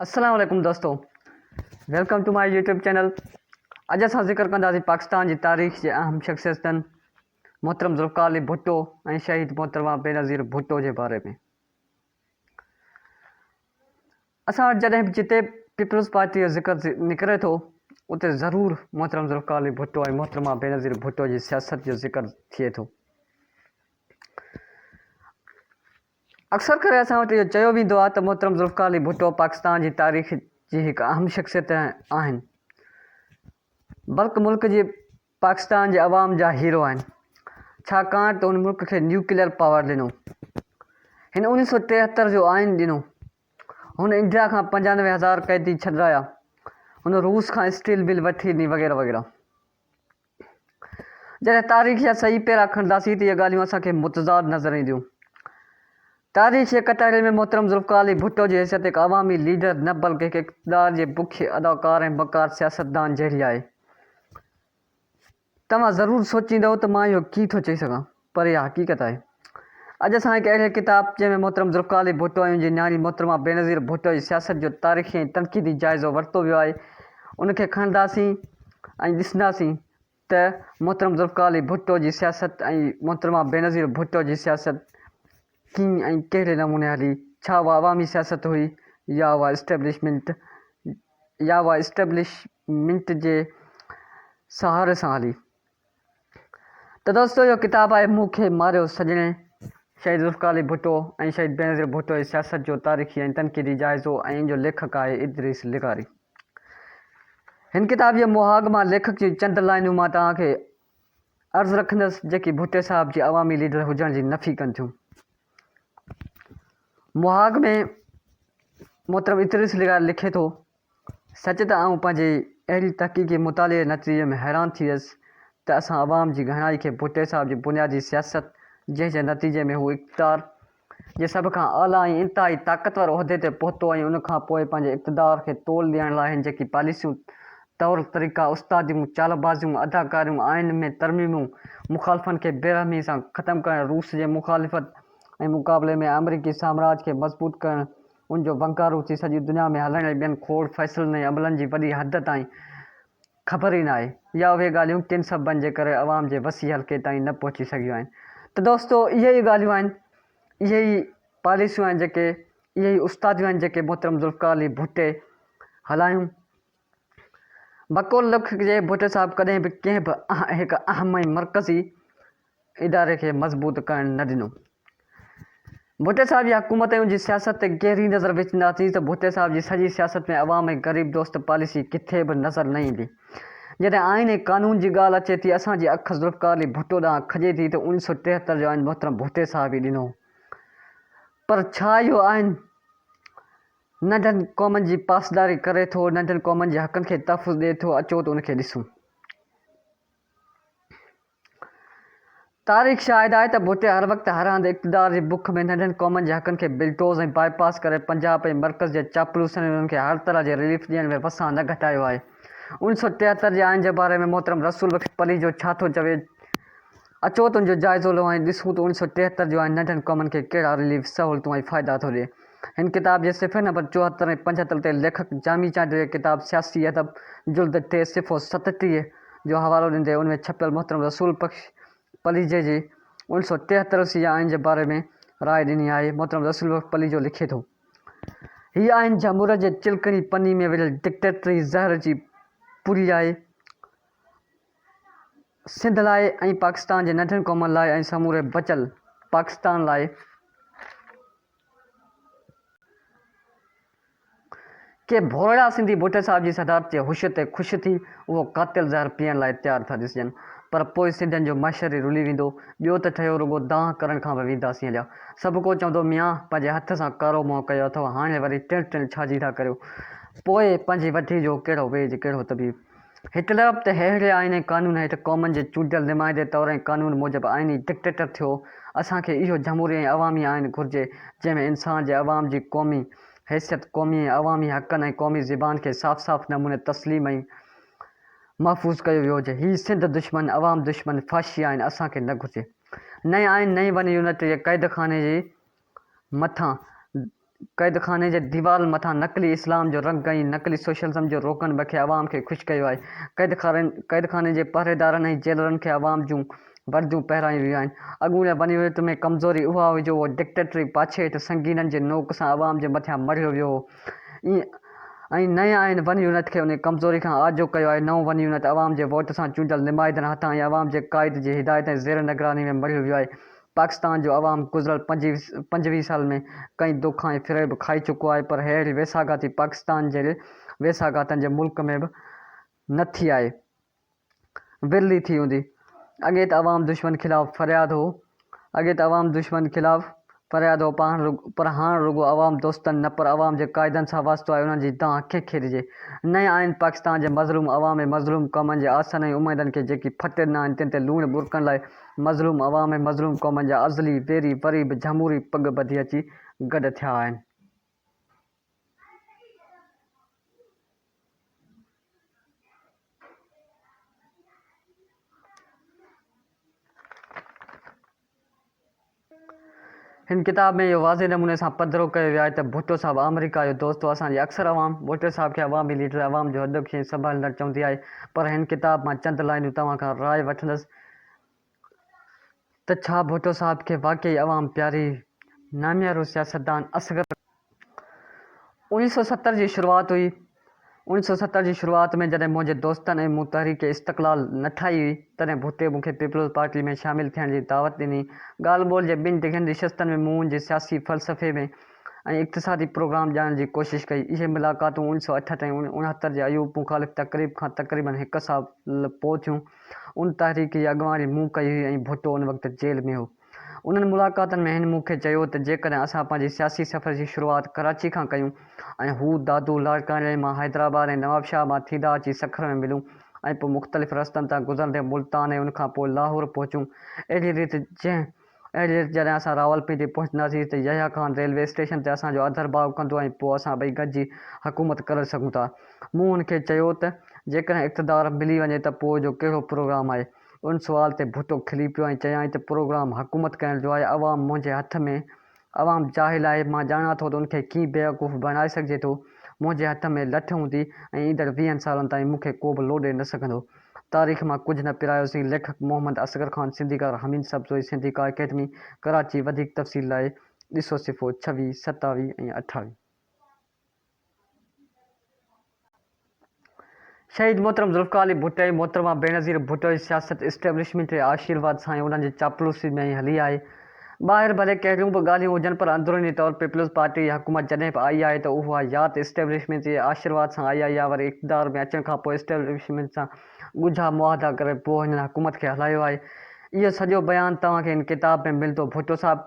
السلام عليڪم دوستو welcome to my YouTube channel اڄ اسان ذڪر ڪنداسين پاڪستان جي تاريخ جي اهم شخصيتن محترم ذوالفقار علي ڀٽو ۽ شهيد محترمه بينظير ڀٽو جي باري ۾ اسان وٽ جڏهن به جتي پيپلز پارٽي جو ذڪر نڪري ٿو اتي ضرور محترم ذوالفقار علي ڀٽو ۽ محترمه بينظير ڀٽو جي سياست جو ذڪر ٿئي ٿو اڪثر ڪري اسان وٽ اهو چيو ويندو آهي ته محترم ذوالفقار علي ڀٽو پاڪستان جي تاريخ جي هڪ اهم شخصيت آهن بلڪ ملڪ جي پاڪستان جي عوام جا هيرو آهن ڇاڪاڻ ته هن ملڪ کي نيوڪليئر پاور ڏنو هن انيس سو ٽيهتر جو آئين ڏنو هن انڊيا کان پنجانوي هزار قيدي ڇڏرايا هن روس کان اسٽيل بل وٺي ڏني وغيره وغيره جڏهن تاريخ جا صحيح پيرا کڻنداسين ته اهي ڳالهيون اسان کي متضاد نظر اينديون. تاريخ جي ڪٽهڙي ۾ محترم ذوالفقار علي ڀٽو جي حيثيت هڪ عوامي ليڊر نه بلڪه هڪ اقتدار جي بک اداڪار ۽ مڪار سياستدان جهڙي آهي. توهان ضرور سوچيندؤ ته مان اهو ڪيئن ٿو چئي سگهان. پر اها حقيقت آهي. اڄ اسان هڪ اهڙي ڪتاب، جنهن ۾ محترم ذوالفقارعلي ڀٽو ۽ ان جي نياڻي محترمه بينظير ڀٽو جي سياست جو تاريخي ۽ تنقيدي جائزو ورتو ويو آهي، ان کي کڻنداسين ۽ ڏسنداسين ته محترم ذوالفقارعلي ڀٽو جي سياست ۽ محترمه بينظير ڀٽو جي سياست ڪيئن ۽ ڪهڙي نموني هلي، ڇا اها عوامي سياست هئي يا اها اسٽيبلشمنٽ يا اها اسٽيبلشمنٽ جي سهاري سان هلي؟ ته دوستو اهو ڪتاب آهي مون کي ماريو سڄڻي، شهيد ذوالفقار علي ڀٽو ۽ شهيد بينظير ڀٽو جي سياست جو تاريخي ۽ تنقيدي جائزو ۽ ان جو ليکڪ آهي ادريس لغاري. هن ڪتاب جي مهاڳ مان ليکڪ جون چند لائنون مان توهان کي عرض رکندس جيڪي ڀٽي صاحب جي عوامي ليڊر هجڻ جي نفي ڪن ٿيون. مهاڳ ۾ محترم ادريس لغاري لکي ٿو. سچ ته آئون پنهنجي اهڙي تحقيقي مطالعي نطريي ۾ حيران ٿي ويس ته اسان عوام جي گهڻائي کي ڀٽي صاحب جي بنيادي سياست جنهن جي نتيجي ۾ هو اقتدار جي سڀ کان اعليٰ ۽ انتهائي طاقتور عهدي تي پهتو ۽ ان کان پوء پنهنجي اقتدار کي تول ڏيڻ لاء هن جيڪي پاليسيون، طور طريقا، استاديون، چالبازيون، اداڪاريون، آئين ۾ ترميمون، مخالفن کي بيرحمي سان ختم ڪرڻ، روس جي مخالفت ۽ مقابلي ۾ آمريڪي سامراج کي مضبوط ڪرڻ، ان جو بنڪارو ٿي سڄي دنيا ۾ هلڻ ۽ ٻين کوڙ فيصلن ۽ عملن جي وڏي حد تائين خبر ئي نه آهي يا اهي ڳالهيون ڪن سببن جي ڪري عوام جي وسيع حلقي تائين نه پهچي سگهيون آهن ته دوستو اهي ئي ڳالهيون آهن اهي ئي پاليسيون آهن جيڪي اهي ئي استاديون آهن جيڪي محترم ذوالفقار علي ڀٽي هلايون بقول لک جي ڀٽي صاحب ڪڏهن به ڪنهن به هڪ اهم ۽ مرڪزي اداري کي مضبوط ڪرڻ نه ڏنو. ڀٽي صاحب جي حڪومتيون جي سياست تي گهري نظر وجهنداسين ته ڀٽي صاحب جي سڄي سياست ۾ عوام ۽ غريب دوست پاليسي ڪٿي به نظر نه ايندي. جڏهن آئين ۽ قانون جي ڳالهه اچي ٿي اسان جي اک ذوالفقار علي ڀٽو ڏانهن کڄي ٿي ته اڻيهه سؤ ٽيهتر جو آئين محترم ڀٽي صاحب ئي ڏنو هو پر ڇا اهو آئين ننڍن قومن جي پاسداري ڪري ٿو، ننڍن قومن جي حقن کي تحفظ ڏئي ٿو، اچو ته ان کي ڏسون. تاريخ شاهد آهي ته ڀٽي هر وقت هر هنڌ اقتدار جي بک ۾ ننڍن قومن جي حقن کي بلڊوز ۽ باء پاس ڪري پنجاب ۽ مرڪز جي چاپلوسن انهن کي هر طرح جي رليف ڏيڻ ۾ وسان نه گهٽايو آهي. اڻ سؤ ٽيهتر جي آئين جي باري ۾ محترم رسول بخش پليجو ڇا ٿو چوي؟ اچو ته ان جو جائزو لهون ۽ ڏسون ته اوڻي سؤ ٽيهتر جو آئين ننڍن قومن کي ڪهڙا رليف، سهولتون ۽ فائدا ٿو ڏئي. هن ڪتاب جي صفحي نمبر چوهتر ۽ پنجهتر تي ليکڪ جامي چانڊيو جي ڪتاب سياسي ادب، جلد ٽي، صفحو ستٽيهه جو حوالو ڏيندي ان ۾ ڇپيل محترم رسول بخش پليجي جي اوڻي سؤ ٽيهتر سي جي آئين جي باري ۾ راء ڏني آهي. محترم رسول بخش پليجو لکي ٿو. هي آئين جهموريت جي چلڪڻي پني ۾ وريل ڊڪٽيٽري زهر جي پوري آهي. سنڌ لاء ۽ پاڪستان جي ننڍين قومن لاء ۽ سموري بچل پاڪستان لاء ڪي ڀورڙا سنڌي ڀٽي صاحب جي صدارت جي هوش تي خوش ٿي اهو قاتل زهر پيئڻ لاء تيار ٿا ڏسجن پر پوء سنڌين جو محشر ئي رلي ويندو ٻيو ته ٺهيو رڳو دانهن ڪرڻ کان به وينداسين هليا سڀڪو چوندو ميان پنهنجي هٿ سان ڪارو منهن ڪيو اٿئو هاڻي وري ٽڻ ٽڻ ڇا جي ٿا ڪريو پوء پنهنجي وڍي جو ڪهڙو ويڄ ڪهڙو طبيب. هڪ طرف ته ههڙي آئين ۽ قانون هيٺ قومن جي چونڊيل نمائندي طور ۽ قانون موجب آئيني ڊڪٽيٽر ٿيو، اسان کي اهو جمهوري ۽ عوامي آئين گهرجي، جنهن ۾ انسان جي عوام جي قومي حيثيت، قومي ۽ عوامي حقن ۽ قومي زبان کي صاف صاف نموني تسليم ۽ محفوظ ڪيو ويو هجي. هي سنڌ دشمن، عوام دشمن، فاشي آئين اسان کي نه گهرجي. نئين آئين نئين ون يونٽ جي قيدخاني جي مٿان، قيدخاني جي ديوارن مٿان نقلي اسلام جو رنگ ۽ نقلي سوشلزم جو روغن بکي عوام کي خوش ڪيو آهي. قيدخاني قيدخاني جي پهريدارن ۽ جيلرن کي عوام جون ورديون پهرايون ويون آهن. اڳوڻي بنيويت ۾ ڪمزوري اها هئي جو اهو ڊڪٽيٽري پاڇي هيٺ سنگينن جي نوڪ سان عوام جي مٿيان مڙهيو ويو هو ۽ نئين آئين بنيونيت کي انهي ڪمزوري کان آجو ڪيو آهي. نئون بنيونيت عوام جي ووٽ سان چونڊيل نمائندن هٿان ۽ عوام جي قائد جي هدايت ۽ زير نگراني ۾ مڙهيو ويو آهي. پاڪستان جو عوام گذريل پنجويهه سال ۾ ڪئين دوک ۽ فريب کائي چڪو آهي پر ههڙي ويساهگاتي پاڪستان جهڙي ويساهگاتن جي ملڪ ۾ به نه ٿي آهي ورلي ٿي هوندي اڳي ته عوام دشمن خلاف فرياد هو اڳي ته عوام دشمن خلاف فرياد هو پر هاڻ رڳو عوام دوستن نه پر عوام جي قائدن سان واسطو آهي انهن جي دانهن ڪنهن کي ڏجي نئين آئين پاڪستان جي مظلوم عوام ۽ مظلوم قومن جي آسن ۽ اميدن کي جيڪي ڦٽ ڏنا آهن تن تي لوڻ ٻرڪڻ لاء مظلوم عوام ۽ مظلوم قومن جا ازلي ويري وري به جهموري پڳ ٻڌي اچي گڏ ٿيا آهن. هن ڪتاب ۾ اهو واضح نموني سان پڌرو ڪيو ويو آهي ته ڀٽو صاحب آمريڪا جو دوست هو، اسان جي اڪثر عوام ڀٽو صاحب کي عوامي ليڊر، عوام جو هڏڪ ۽ سنڀاليندڙ چوندي آهي پر هن ڪتاب مان چند لائينون توهان کان راء وٺندس ته ڇا ڀٽو صاحب کي واقعي عوام پياري؟ ناميارو سياستدان اصغر اوڻيھ سؤ ستر جي شروعات هئي. اوڻيھ سؤ ستر جي شروعات ۾ جڏهن منهنجي دوستن ۽ مون تحريڪ استقلال نه ٺاهي هئي، تڏهن ڀٽي مون کي پيپلز پارٽي ۾ شامل ٿيڻ جي دعوت ڏني. ڳالهه ٻولهه جي ٻن ڊگهين نشستن ۾ مون ان جي سياسي فلسفي ۾ ۽ اقتصادي پروگرام ڄاڻڻ جي ڪوشش ڪئي. اهي ملاقاتون اوڻيھ سؤ اٺهٺ ۽ اڻهتر جي ايوب مخالف تقريب کان تقريبن هڪ سال پوء ٿيون. ان تحريڪ جي اڳواڻي مون ڪئي هئي ۽ ڀٽو ان وقت جيل ۾ هو. انهن ملاقاتن ۾ هن مون کي چيو ته جيڪڏهن اسان پنهنجي سياسي سفر جي شروعات ڪراچي کان ڪيون ۽ هو دادو لاڙڪاڻي مان حيدرآباد ۽ نوابشاهه مان ٿيندا اچي سکر ۾ ملون ۽ پوء مختلف رستن تان گذرندي ملتان ۽ ان کان پوء لاهور پهچون اهڙي ريت جنهن اهڙي ريت جڏهن اسان راولپنڊي پهچنداسين ته يحيٰ خان ريلوي اسٽيشن تي اسان جو آڌرڀاء ڪندو ۽ پوء اسان ٻئي گڏجي حڪومت ڪري سگهون ٿا مون هن کي چيو ته جيڪڏهن اقتدار ملي وڃي ته پوء جو ڪهڙو پروگرام آهي ان سوال تي ڀٽو کلي پيو ۽ چيائين ته پروگرام حڪومت ڪرڻ جو آهي، عوام منهنجي هٿ ۾، عوام جاهل آهي، مان ڄاڻان ٿو ته ان کي ڪيئن بيوقوف بڻائي سگهجي ٿو، منهنجي هٿ ۾ لٺ هوندي ۽ ايندڙ ويهن سالن تائين مون کي ڪوبه لوڏي نه سگهندو. تاريخ مان ڪجهه نه پرايوسين ليکڪ محمد اصغر خان سنڌيڪار حميد سبزوئي سنڌي ڪا اڪيڊمي ڪراچي وڌيڪ تفصيل لاء ڏسو صفحو ڇويهه، ستاويهه ۽ اٺاويهه. شهيد محترم ذوالفقار علي ڀٽو ۽ محترمه بينظير ڀٽو جي سياست اسٽيبلشمينٽ جي آشيرواد سان ۽ انهن جي چاپلوسي ۾ ئي هلي آهي. ٻاهر ڀلي ڪهڙيون به ڳالهيون هجن پر اندروني طور پيپلز پارٽي جي حڪومت جڏهن به آئي آهي ته اها يات اسٽيبلشمينٽ جي آشيرواد سان آئي آهي يا وري اقتدار ۾ اچڻ کان پوء اسٽيبلشمينٽ سان ڳجها معاهدا ڪري پوء هنن حڪومت کي هلايو آهي. اهو سڄو بيان توهان کي هن ڪتاب ۾ ملندو. ڀٽو صاحب!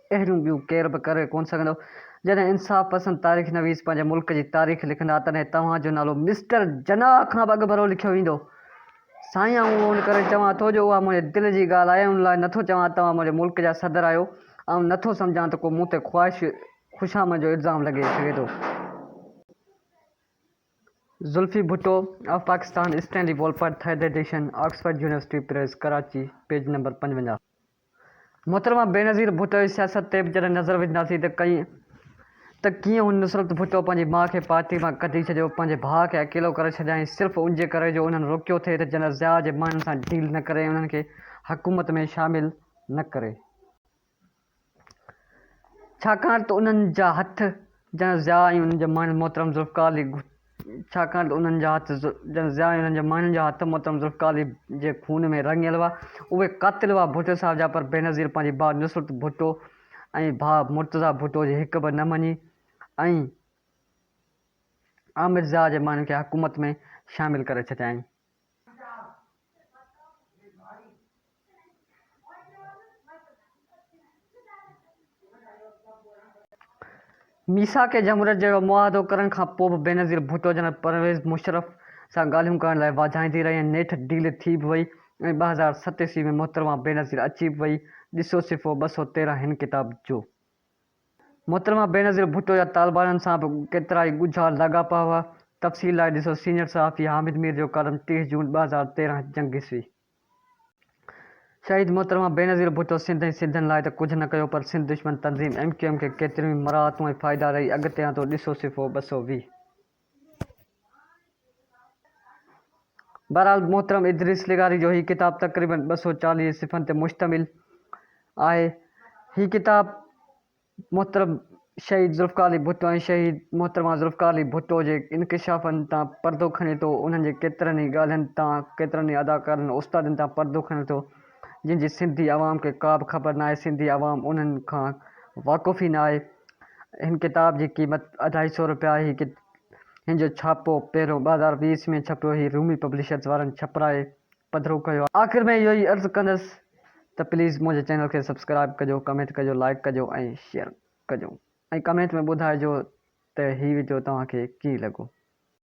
اهڙيون ٻيون ڪير به ڪري ڪونه سگهندو. جڏهن انصاف پسند تاريخ نويس پنهنجي ملڪ جي تاريخ لکندا تڏهن توهان جو نالو مسٽر جناح کان به اڳڀرو لکيو ويندو. سائين آئون اهو ان ڪري چوان ٿو جو اها منهنجي دل جي ڳالهه آهي ان لاء نٿو چوان توهان منهنجي ملڪ جا صدر آهيو آئون نٿو سمجهان ته ڪو مون تي خواهش خوشامد جو الزام لڳي سگهي ٿو. Zulfi Bhutto of Pakistan Stanley Wolpert third edition Oxford University Press Karachi page number پنجونجاهه. محترمه بينظير ڀٽو جي سياست تي به جڏهن نظر وجهنداسين ته ڪئين ته ڪيئن هن نصرت ڀٽو پنهنجي ماء کي پارٽي مان ڪڍي ڇڏيو، پنهنجي ڀاء کي اڪيلو ڪري ڇڏيائين صرف ان جي ڪري جو انهن روڪيو ٿي ته جنرل ضياء جي ماڻهن سان ڊيل نه ڪري ۽ انهن کي حڪومت ۾ شامل نه ڪري ڇاڪاڻ ته انهن جا هٿ جنرل ضياء ۽ انهن جي ماڻهن محترم ذوالفقار علي ڇاڪاڻ ته انهن جا هٿ ڄڻ ضياء انهن جي ماڻهن جا هٿ محترم ذوالفقارعلي جي خون ۾ رڱيل هئا. اهي قاتل هئا ڀٽو صاحب جا پر بينظير پنهنجي ڀاء نصرت ڀٽو ۽ ڀاء مرتضيٰ ڀٽو جي هڪ به نه مڃي ۽ عامر ضياء جي ماڻهن کي حڪومت ۾ شامل ڪري ڇڏيائين. ميثاق جمهوريت جهڙو معاهدو ڪرڻ کان پوء به بينظير ڀٽو جنرل پرويز مشرف سان ڳالهيون ڪرڻ لاء واجهائيندي رهي ۽ نيٺ ڊيل ٿي به وئي ۽ ٻه هزار ست عيسوي ۾ محترمه بينظير اچي به وئي، ڏسو صفحو ٻه سؤ تيرهن هن ڪتاب جو. محترمه بينظير ڀٽو جا طالبانن سان به ڪيترائي ڳجها لاڳاپا هئا، تفصيل لاء ڏسو سينيئر صحافي حامد مير جو ڪالم ٽيهه جون ٻه هزار تيرهن جنگ عيسوي شهيد محترمه بينظير ڀٽو سنڌ ۽ سنڌين لاء ته ڪجهه نه ڪيو پر سنڌ دشمن تنظيم ايم ڪيو ايم کي ڪيتريون ئي مراعتون ۽ فائدا رئي اڳتيان ٿو ڏسو صفحو ٻه سؤ ويهه. بهرحال محترم ادريس لغاري جو هي ڪتاب تقريباً ٻه سؤ چاليهه صفحن تي مشتمل آهي. هي ڪتاب محترم شهيد ذوالفقار علي ڀٽو ۽ شهيد محترمه ذوالفقار علي ڀٽو جي انڪشافن تان پردو کڻي ٿو، انهن جي ڪيترن ئي ڳالهين تان، ڪيترن ئي اداڪارن ۽ استادن تان پردو کڻي ٿو. جن جي سنڌي عوام کي ڪا به خبر ناهي سنڌي عوام انهن کان واقف ئي ناهي هن ڪتاب جي قيمت اڍائي سئو روپيا آهي هن جو ڇاپو پهريون ٻه هزار ويهه ۾ ڇپيو هي رومي پبلشرز وارن ڇپرائي پڌرو ڪيو آهي. آخر ۾ اهو ئي عرض ڪندس ته پليز منهنجي چينل کي سبسڪرائب ڪجو ڪمينٽ ڪجو لائيڪ ڪجو ۽ شيئر ڪجو ۽ ڪمينٽ ۾ ٻڌائجو ته هي وڊيو توهان کي ڪيئن لڳو.